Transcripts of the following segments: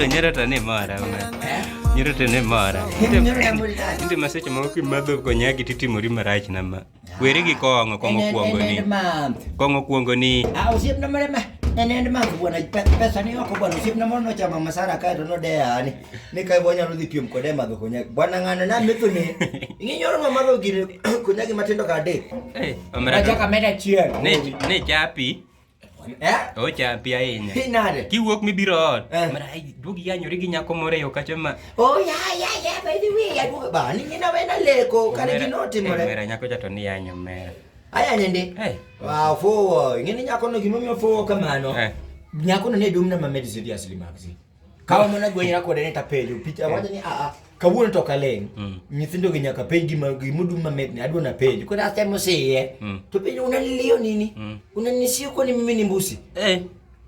nyirota ni mora nyirota ni mora nti maseche moko kimadho konyagi titimori marach nama weri gi kong'o kong'o kuongo ni kong'o kuongo ni enende mangu bwana pesa ni oko bwana usipna mono chama masara kae to nodeyani ni ka wanyalo dhi piem kode madho konyagi bwana ng'ano na metho ni ing'inyoro ma madho gini konyagi matindo ka adek eh, achaka meda chiel ne chapi eh? ochapi ahinya nade kiwuok mibiro ot eh. mara duogi yanyori gi nyako moro eyo kacho ma oh ya ya ya by the way aduogo ba ni nyina wena leko kare gino timore mera nyako chato ni yanyo mera aya nende wa fowo ngini nyako no gimomiyo fowo kamano nyakono ne dum na ma medicine ya sili magazine Kawa mana gwenyra kode ni tapenjo picha wacho ni a a kawuono to kaleng. Mm. Nyithindo gi nyaka penj gima gimudum mamet ni adwa na penjo. Kwa last time usiye. Mm. To penjo unanilio nini? Mm. Unanisio kwa ni mimi ni mbusi. Eh.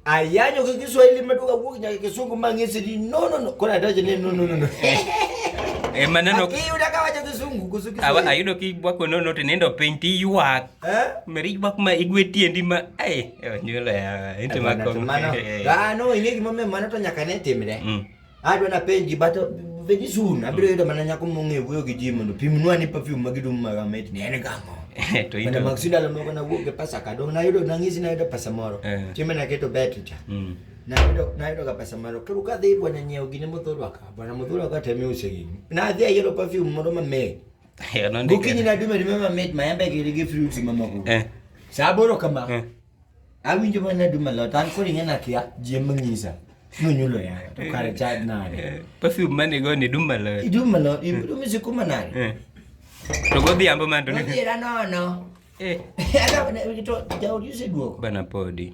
Ayanyo kwa Kiswahili mtu kavuki nyaka kisungu mangesi ni no no no. Kwa nataje ni no no no no. Eh maneno. Aki unakawacha kisungu kusuki. Awa ayudo ki bwako no no tinendo penj ti yuak. Eh? Meri bak ma igwe tiendi ma eh nyule eh, inte eh, ma ko. Eh. Ah no, inge gimo me mano to nyaka ne timre. Mm. Adwa na penji bato veji sun abiro yudo mana nyako mong'e wuoyo gi ji mondo pimnwa ni perfume ma gidum ma gamit ni en gamo to ito mag sindalo moko na wuok gi pesa ka dong nayudo nang'isi nayudo pesa moro chieme naketo bet cha mm. nayudo nayudo ga pesa moro koro ka dhi bwana nyiewo gine modhurwa ka bwana modhurwa ka temi use gini nadhi ayiero perfume moro mamit gokinyi naduma ni mama mit maembe giri gi fruit mama go eh. sa aboro kama eh. awinjo mana naduma lot an koro ing'e nakia jie mang'isa nonyulo yayo to kare chad nade eh, perfume mane go ni duma lot iduma lot iduma sikuma nade to godhiambo man to ni odhiera nono eh jaudi useduoko bana podi